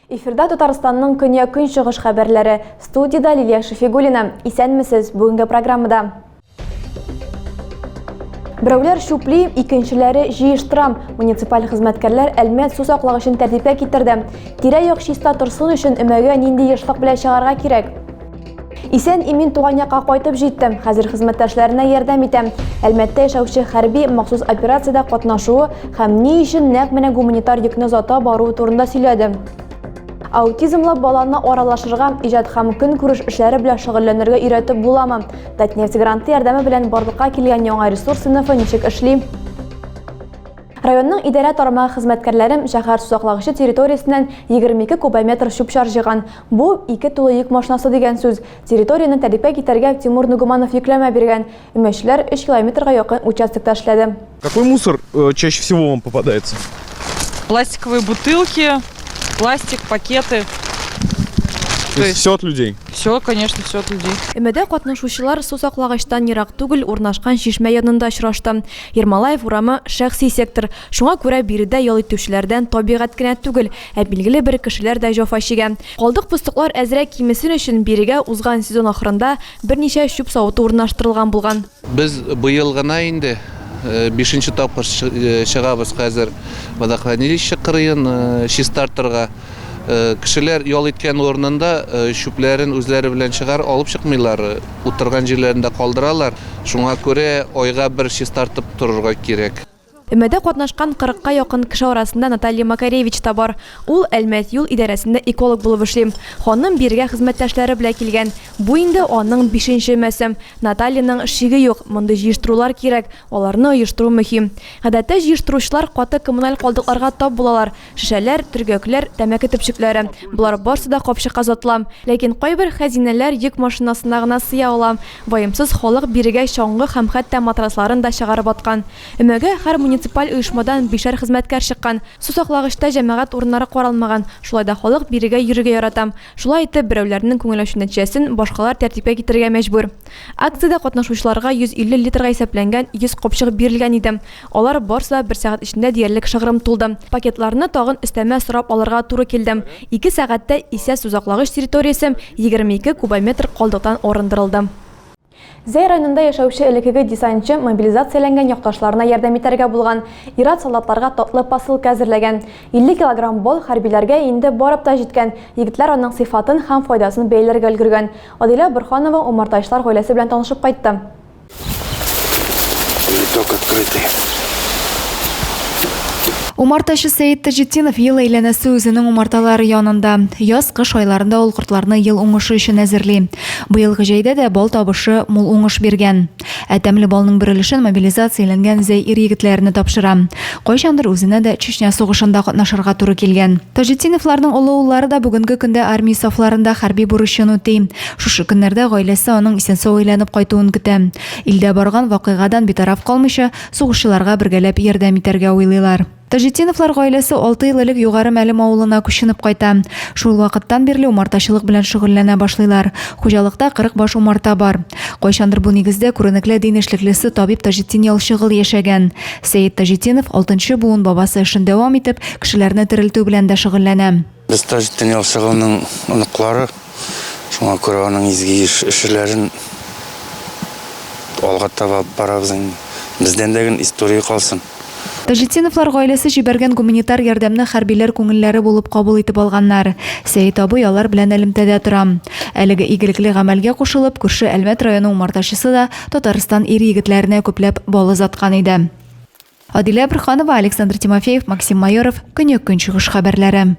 Эфирда Татарстанның көне көнчыгыш хәбәрләре. Студияда Лилия Шефигулина. Исәнмесез, бүгенге программада. Берәүләр чүпли, икенчеләре җыештырам. Муниципаль хезмәткәрләр Әлмәт су саклагычын тәртипкә китерде. Тирә-як чиста торсын өчен өмәгә нинди ешлык белән чыгарга кирәк? Исән имин туган якка кайтып җиттем. Хәзер хезмәттәшләренә ярдәм итәм. Әлмәттә яшәүче хәрби махсус операциядә катнашуы һәм ни өчен нәкъ менә гуманитар йөкне озата баруы турында сөйләде. Аутизмлы баланы аралашырга, иҗат һәм көнкүреш эшләре белән шөгыльләнергә өйрәтеп буламы? Татнефть гранты ярдәме белән барлыкка килгән яңа ресурс сыйныфы ничек эшли? Районның идарә тармагы хезмәткәрләрем шәһәр сусаклагычы территориясеннән 22 кубометр чүп-чар җыйган. Бу ике тулы йөк машинасы дигән сүз. Территорияне тәртипкә китәргә Тимур Нугуманов йөкләмә биргән. Өмәчеләр 3 километрга якын участокта эшләде. Какой мусор э, чаще всего вам попадается? Пластиковые бутылки, пластик, пакеты. То есть все от людей? Все, конечно, все от людей. Өмәдә катнашучылар су саклагычтан ерак түгел урнашкан чишмә янында очрашты. Ермолаев урамы шәхси сектор. Шуңа күрә биредә ял итүчеләрдән табигать кенә түгел, ә билгеле бер кешеләр дә җафа чигә. Калдык пустыклар әзрәк кимесен өчен бирегә узган сезон ахырында берничә чүп савыты урнаштырылган булган. Без быел гына инде бишенче тапкыр чыгабыз хәзер водохранилище кырыен чистартырга. Кешеләр ял иткән урынында чүпләрен үзләре белән чыгар, алып чыкмыйлар, утырган җирләрендә калдыралар. Шуңа күрә айга бер чистартып торырга кирәк. Өмәдә катнашкан кырыкка якын кеше арасында Наталья Макаревич та бар. Ул Әлмәт юл идарәсендә эколог булып эшли. Ханым бирегә хезмәттәшләре белән килгән. Бу инде аның бишенче өмәсе. Натальяның шиге юк, мондый җыештырулар кирәк, аларны оештыру мөһим. Гадәттә җыештыручылар каты коммуналь калдыкларга тап булалар. Шешәләр, төргәкләр, тәмәке төпчекләре. Болар барсы да капчыкка озатыла. Ләкин кайбер хәзинәләр йөк машинасына гына сыя ала. Ваемсыз халык бирегә чаңгы һәм хәтта матрасларын да чыгарып аткан. Өмәгә һәр муниципаль оешмадан бишәр хезмәткәр чыккан. Сусаклагычта җәмәгать урыннары каралмаган, шулай да халык бирегә йөрергә ярата. Шулай итеп, берәүләрнең күңел ачу нәтиҗәсен башкалар тәртипкә китерергә мәҗбүр. Акциядә катнашучыларга 150 литрга исәпләнгән 100 капчык бирелгән иде. Алар барсы да бер сәгать эчендә диярлек шыгрым тулды. Пакетларны тагын өстәмә сорап алырга туры килде. Ике сәгатьтә исә сусаклагыч территориясе 22 кубометр калдыктан арындырылды. Зәй районында яшәүче элеккеге десантчы мобилизацияләнгән якташларына ярдәм итәргә булган. Ир-ат солдатларга татлы посылка әзерләгән. 50 килограмм бал хәрбиләргә инде барып та җиткән, егетләр аның сыйфатын һәм файдасын бәяләргә өлгергән. Адилә Борханова умартачылар гаиләсе белән танышып кайтты. Цветок открытый. Умартачы Сәет Таҗетдинов ел әйләнәсе үзенең умарталары янында. Яз, кыш айларында ул кортларны ел уңышы өчен әзерли. Быелгы җәйдә дә бал табышы мул уңыш биргән. Ә тәмле балның бер өлешен мобилизацияләнгән Зәй ир-егетләренә тапшыра. Кайчандыр үзенә дә Чечня сугышында катнашырга туры килгән. Таҗетдиновларның олы уллары да бүгенге көндә армия сафларында хәрби бурычын үти. Шушы көннәрдә гаиләсе аның исән-сау әйләнеп кайтуын көтә. Илдә барган вакыйгадан битараф калмыйча, сугышчыларга бергәләп ярдәм итәргә уйлыйлар. Таҗетдиновлар гаиләсе алты ел элек Югары Мәлем авылына күченеп кайта. Шул вакыттан бирле умартачылык белән шөгыльләнә башлыйлар. Хуҗалыкта 40 баш умарта бар. Кайчандыр бу нигездә күренекле дин эшлеклесе табиб Таҗетдин Ялчыгыл яшәгән. Сәет Таҗетдинов, алтынчы буын бабасы эшен дәвам итеп, кешеләрне терелтү белән дә шөгыльләнә. Без Таҗетдин Ялчы улының оныклары, шуңа күрә аның изге эшләрен алга таба алып барабыз инде. Бездән дә гел история калсын. Таҗетдиновлар гаиләсе җибәргән гуманитар ярдәмне хәрбиләр күңелләре булып кабул итеп алганнар. Сәет абый алар белән элемтәдә тора. Әлеге игелекле гамәлгә кушылып, күрше Әлмәт районы умартачысы да Татарстан ир-егетләренә күпләп бал озаткан иде. Адилә Бөрханова, Александр Тимофеев, Максим Майоров, Көньяк-Көнчыгыш хәбәрләре.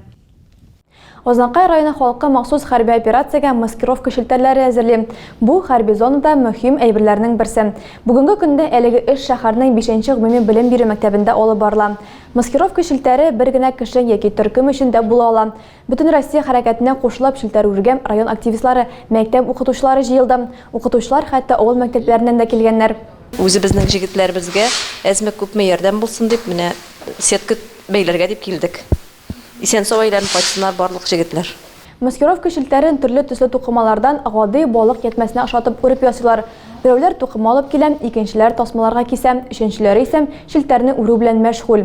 Азнакай районы халкы махсус хәрби операциягә маскировка челтәрләре әзерли. Бу, хәрби зонада мөһим әйберләрнең берсе. Бүгенге көндә әлеге эш шәһәрнең бишенче гомуми белем бирү мәктәбендә алып барыла. Маскировка челтәре бер генә кеше яки төркем өчен дә була ала. Бөтенроссия хәрәкәтенә кушылып челтәрүргә район активистлары, мәктәп укытучылары җыелды. Укытучылар, хәтта авыл мәктәпләреннән дә килгәннәр. Үзебезнең җегетләребезгә әзме-күпме ярдәм булсын дип, менә сетка бәйләргә дип килдек. Исән-сау әйләнеп кайтсыннар барлык җегетләр. Маскировка челтәрен төрле төсле тукымалардан гади балык ятьмәсенә охшатып үреп ясыйлар. Берәүләр тукыма алып килә, икенчеләр тасмаларга кисә, өченчеләре исә челтәрне үрү белән мәшгуль.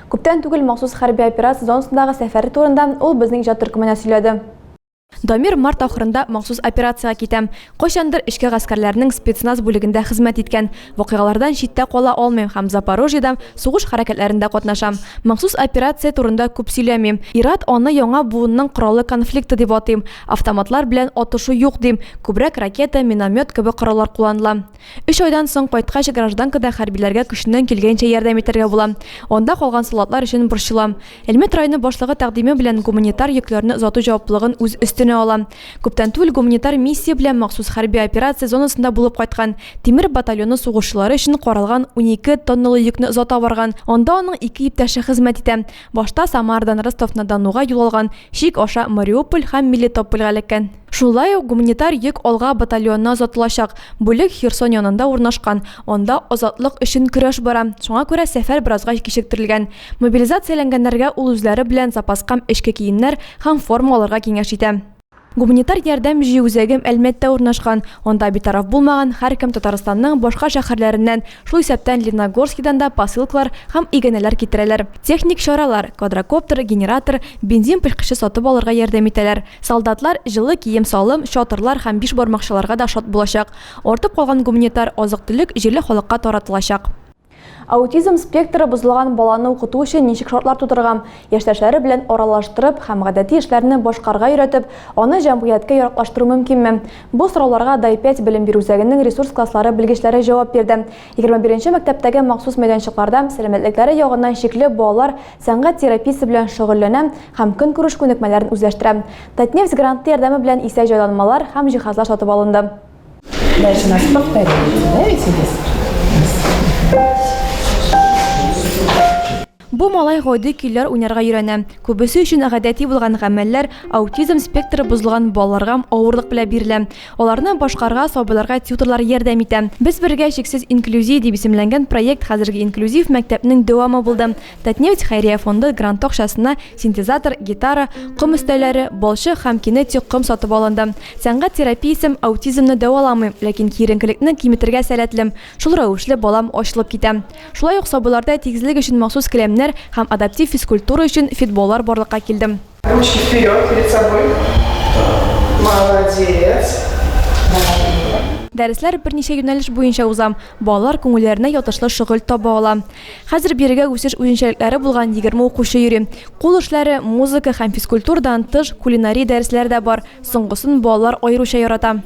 Күптән түгел махсус хәрби операция зонасындагы сәфәре турында ул безнең иҗат төркеменә сөйләде. Дамир март ахырында махсус операциягә китә. Кайчандыр эчке гаскәрләрнең спецназ бүлегендә хезмәт иткән. Вакыйгалардан читтә кала алмыйм һәм Запорожьеда сугыш хәрәкәтләрендә катнашам. Махсус операция турында күп сөйләмим. Ир-ат аны яңа буынның коралы конфликты дип атыйм. Автоматлар белән атышу юк, дим. Күбрәк ракета, миномет кебек кораллар кулланыла. Өч айдан соң кайткач, гражданкада хәрбиләргә көченнән килгәнчә ярдәм итәргә була. Анда калган солдатлар өчен борчылам. Әлмәт районы башлыгы тәкъдиме белән гуманитар йөкләрне озату җаваплылыгын үз өстенә ала. Күптән түгел гуманитар миссия белән махсус хәрби операция зонасында булып кайткан, Тимер батальоны сугышчылары өчен каралган унике тонналы йөкне озата барган. Анда аның ике иптәше хезмәт итә. Башта Самарадан Ростов-на-Донуга юл алган чик аша Мариуполь һәм Мелитопольгә эләккән. Шулай ук гуманитар йөк алга батальонына озатылачак бүлек Херсон янында урнашкан, анда азатлык өчен көрәш бара, шуңа күрә сәфәр беразга кичектерелгән. Мобилизацияләнгәннәргә ул үзләре белән запаскам эчке киемнәр һәм форма алырга киңәш итә. Гуманитар ярдәм җыю үзәгем Әлмәттә урнашкан. Анда битараф булмаган һәркем Татарстанның башка шәһәрләреннән, шул исәптән Лениногорскидан да посылкалар һәм иганәләр китерәләр. Техник чаралар, квадрокоптер, генератор, бензин пешкече сатып алырга ярдәм итәләр. Солдатлар җылы кием-салым, чатырлар һәм бишбармакчыларга да шат булачак. Артып калган гуманитар азык-төлек җирле халыкка таратылачак. Аутизм спектры бозылган баланы укыту өчен ничек шартлар тудырырга? Яшьтәшләре белән аралаштырып һәм гадәти эшләрне башкарырга өйрәтеп, аны җәмгыятькә яраклаштыру мөмкинме? Бу сорауларга Дай-5 белем бирү үзәгенең ресурс класслары белгечләре җавап бирде. 21 нче мәктәптәге махсус мәйданчыкларда сәламәтлекләре ягыннан чикле балалар сәнгать терапиясе белән шөгыльләнә һәм көнкүреш күнекмәләрен үзләштерә. Татнефть гранты ярдәме белән исә җайланмалар һәм җиһазлар сатып алынды. Дальше нас повторяем. Нравится здесь? Бу малай гойди көйләр уйнарга өйрәнә. Күбесе өчен гадәти булган гамәлләр аутизм спектры бозылган балаларга авырлык белән бирелә. Аларны башкарга сабыйларга тьюторлар ярдәм итә. Без бергә чиксез инклюзия дип исемләнгән проект хәзерге инклюзив мәктәпнең дәвамы булды. Татнефть хәйрия фонды гранты акчасына синтезатор, гитара, ком өстәлләре, балчык һәм кинетик ком сатып алынды. Сәнгать терапиясем аутизмны дәваламыйм, ләкин киеренкелекне киметергә сәләтле, шул рәвешле балам ачылып китә. Шулай ук сабыйларда тигезлек өчен махсус келәмнәр һәм адаптив физкультура өчен фитболлар барлыкка килде. Ручки вперед, перед собой. Молодец. Дәресләр берничә юнәлеш буенча уза. Балалар күңелләренә ятышлы шөгыль таба ала. Хәзер бирегә үсеш үзенчәлекләре булган 20 укучы йөри. Кул эшләре, музыка һәм физкультурадан тыш кулинария дәресләре дә бар. Соңгысын балалар аеруча ярата.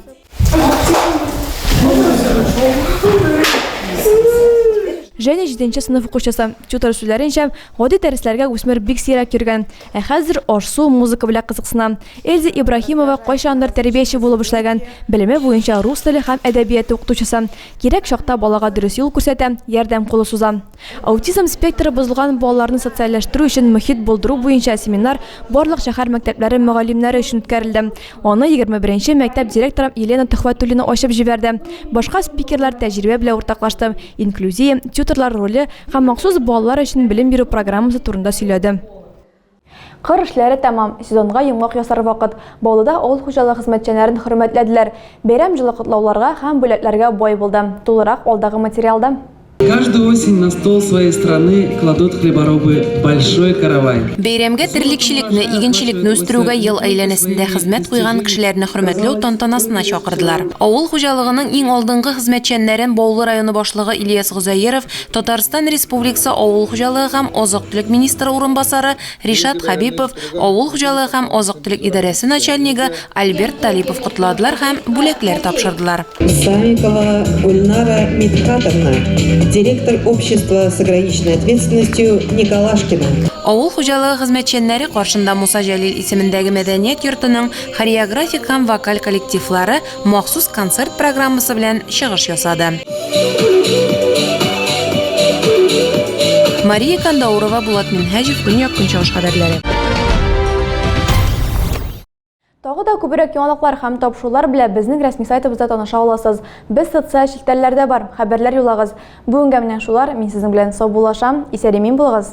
Женя җиденче сыйныф укучысы. Тютор сүзләренчә, гади дәресләргә үсмер бик сирәк йөргән. Ә хәзер аш-су, музыка белән кызыксына. Эльза Ибраһимова кайчандыр тәрбияче булып эшләгән, белеме буенча рус теле һәм әдәбияты укытучысы. Кирәк чакта балага дөрес юл күрсәтә, ярдәм кулы суза. Аутизм спектры бозылган балаларны социальләштерү өчен мохит булдыру буенча семинар барлык шәһәр мәктәпләре мөгаллимнәре өчен үткәрелде. Аны егерме беренче мәктәп директоры Елена Төхвәтуллина ачып җибәрде. Башка спикерлар тәҗрибә белән уртаклашты, инклюзия, тьюторлар роле һәм махсус балалар өчен белем бирү программасы турында сөйләде. Кыр эшләре тәмам, сезонга йомгак ясар вакыт. Баулыда авыл хуҗалыгы хезмәтчәннәрен хөрмәтләделәр. Бәйрәм җылы котлауларга һәм бүләкләргә бай булды. Тулырак алдагы материалда. Каждую осень на стол своей страны кладут хлеборобы большой каравай. Бәйрәмгә терлекчелекне, игенчелекне үстерүгә ел әйләнәсендә хезмәт куйган кешеләрне хөрмәтләү тантанасына чакырдылар. Авыл хуҗалыгының иң алдынгы хезмәтчәннәрен Баулы районы башлыгы Ильяс Гозаеров, Татарстан Республикасы авыл хуҗалыгы һәм азык-төлек министры урынбасары Ришат Хәбипов, авыл хуҗалыгы һәм азык-төлек идарәсе начальнигы Альберт Талипов котладылар һәм бүләкләр тапшырдылар. Исаенкова Гульнара Мидхатовна, директор общества с ограниченной ответственностью Николашкина. Авыл хуҗалыгы хезмәтчәннәре каршында Муса Җәлил исемендәге мәдәният йортының хореографик һәм вокаль коллективлары, махсус концерт программасы белән чыгыш ясады. Мария Кандаурова, Булат Минһаҗев, Көньяк-Көнчыгыш хәбәрләре. Тагы да күбрәк яңалыклар һәм тапшырулар белән безнең рәсми сайтыбызда таныша аласыз. Без социаль челтәрләрдә бар, хәбәрләр юлагыз. Бүгенгә менә шулар, мин сезнең белән саубуллашам, исән-имин булыгыз!